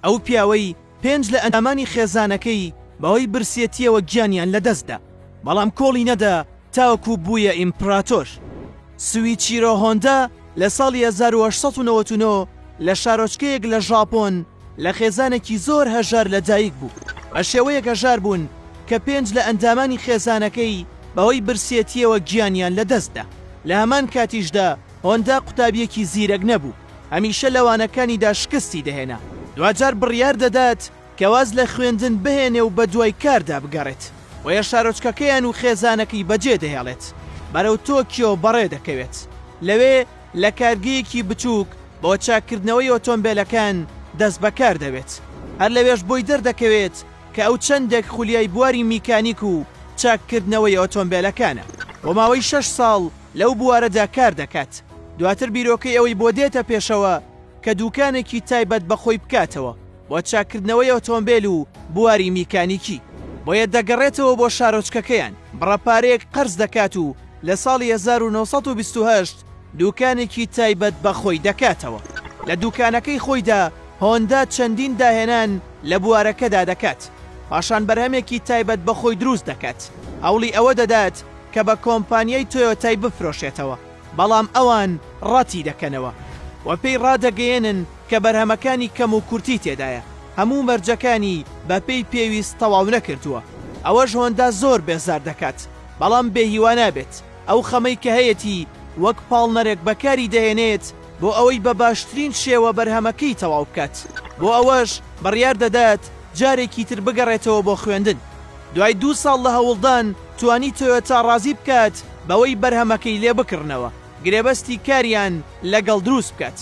ئەو پیاوەی پێنج لە ئەندامانی خێزانەکەی بەهۆی برسیەتیەوە گیانیان لەدەستدا، بەڵام کۆڵی نەدا تاوەکو بوویە ئیمپڕاتۆر. سویچیرۆ هۆندا لە ساڵی هەزار و هەشت سەد و نەوەد و نۆ لە شارۆچکەیەک لە ژاپۆن لە خێزانێکی زۆر هەژار لەدایکبوو، بە شێوەیەک هەژار بوون کە پێنج لە ئەندامانی خێزانەکەی بەهۆی برسیەتیەوە گیانیان لەدەستدا. لە هەمان کاتیشدا هۆندا قوتابیەکی زیرەک نەبوو. هەمیشە لە وانەکانیدا شکستی دەهێنا، دواجار بڕیار دەدات کە واز لە خوێندن بهێنێ و بەدوای کاردا بگەڕێت، بۆیە شارۆچکەکەیان و خێزانەکەی بەجێ دەهێڵێت، بەرەو تۆکیۆ بەڕێ دەکەوێت، لەوێ لە کارگەیەکی بچووک بۆ چاککردنەوەی ئۆتۆمبێلەکان دەست بەکار دەبێت، هەر لەوێش بۆی دەردەکەوێت کە ئەو چەندێک خولیای بواری میکانیک و چاککردنەوەی ئۆتۆمبێلەکانە. بۆ ماوەی شەش ساڵ، لەو بوارەدا کار دەکات، دواتر بیرۆکەی ئەوەی بۆ دێتە پێشەوە کە دووکانێکی تایبەت بە خۆی بکاتەوە بۆ چاککردنەوەی ئۆتۆمبێل و بواری میکانیکی، بۆیە دەگەڕێتەوە بۆ شارۆچکەکەیان، بڕە پارەیەک قەرز دەکات و لە ساڵی هەزار و نۆ سەد و بیست و هەشت دووکانێکی تایبەت بە خۆی دەکاتەوە، لە دووکانەکەی خۆیدا هۆندا چەندین داهێنان لە بوارەکەدا دەکات، پاشان بەرهەمێکی تایبەت بە خۆی دروست دەکات، هەوڵی ئەوە دەدات کە بە کۆمپانیای تۆیۆتای بفرۆشێتەوە، بەڵام ئەوان ڕەتیدەکەنەوە و پێی ڕادەگەیەنن کە بەرهەمەکانی کەموکورتی تێدایە، هەموو مەرجەکانی بەپێی پێویست تەواونەکردووە، ئەوەش هۆندا زۆر بێزار دەکات، بەڵام بێهیوا نابێت، ئەو خەمەی کە هەیەتی وەک پاڵنەرێک بەکاریدەهێنێت بۆ ئەوەی بە باشترین شێوە بەرهەمەکەی تەواوبکات، بۆ ئەوەش بڕیاردەدات جارێکی تر بگەڕێتەوە بۆ خوێندن. دوای دوو ساڵ لە هەوڵدان توانی تۆیۆتا ڕازی بکات بەوەی بەرهەمەکەی لێ بکڕنەوە گرێبەستی کاریان لەگەڵ دروست بکات،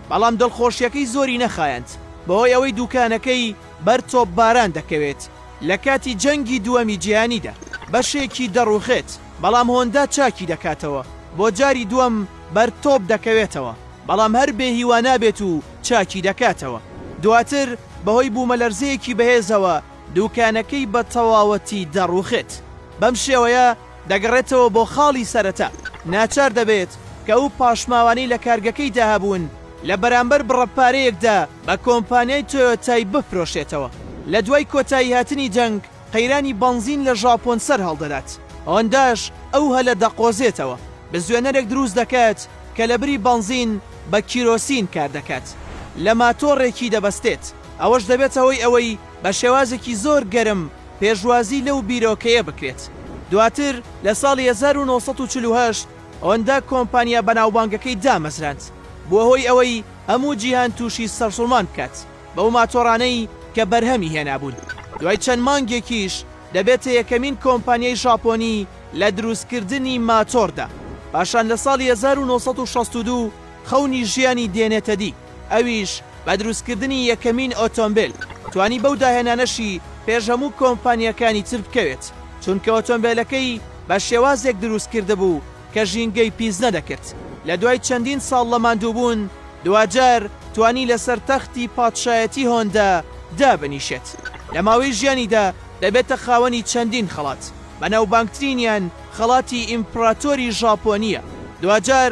بەڵام دڵخۆشیەکەی زۆری نەخایاند بەهۆی ئەوەی دوکانەکەی بەر تۆپباران دەکەوێت لە کاتی جەنگی دووەمی جیهانیدا بەشێکی دەڕوخێت بەڵام هۆندا چاکی دەکاتەوە بۆ جاری دووەم بەر تۆپ دەکەوێتەوە بەڵام هەر بێ هیوا نابێت و چاکی دەکاتەوە دواتر بەهۆی بوومەلەرزەیەکی بەهێزەوە دووکانەکەی بە تەواوەتی دەڕووخێت. بەم شێوەیە دەگەڕێتەوە بۆ خاڵی سەرەتا، ناچار دەبێت کە ئەو پاشماوانەی لە کارگەکەیدا هەبوون لە بەرامبەر بڕە پارەیەکدا بە کۆمپانیای تۆیۆتای بفرۆشێتەوە. لە دوای کۆتاییهاتنی جەنگ، قەیرانی بەنزین لە ژاپۆن سەرهەڵدەدات، هۆنداش ئەو هەلە دەقۆزێتەوە، بزوێنەرێک دروست دەکات کە لەبری بەنزین بە کیرۆسین کاردەکات، لە ماتۆڕێکی دەبەستێت، ئەوەش دەبێتە هۆی ئەوەی بە شێوازێکی زۆر گەرم پێشوازی لەو بیرۆکەیە بکرێت. دواتر لە ساڵی هەزار و نۆ سەد و چل و هەشت هۆندا کۆمپانیا بەناوبانگەکەی دامەزراند، بووە هۆی ئەوەی هەموو جیهان تووشی سەرسوڕمان بکات بەو ماتۆڕانەی کە بەرهەمی هێنابوون. دوای چەند مانگێکیش دەبێتە یەکەمین کۆمپانیای ژاپۆنی لە دروستکردنی ماتۆڕدا. پاشان لە ساڵی هەزار و نۆ سەد و شەست و دوو، خەونی ژیانی دێنێتەدی، ئەویش بە دروستکردنی یەکەمین ئۆتۆمبێل، توانی بەو داهێنانەشی پێش هەموو کۆمپانیاکانی تر بکەوێت، چونکە ئۆتۆمبێلەکەی بە شێوازێک دروست کردبوو کە ژینگەی پیس نەدەکرد، لە دوای چەندین ساڵ لە ماندووبوون دواجار توانی لەسەر تەختی پادشایەتی هۆندا دابنیشێت، لە ماوەی ژیانیدا دەبێتە خاوەنی چەندین خەڵات، بەناوبانگترینیان خەڵاتی ئیمپڕاتۆری ژاپۆنییە، دواجار.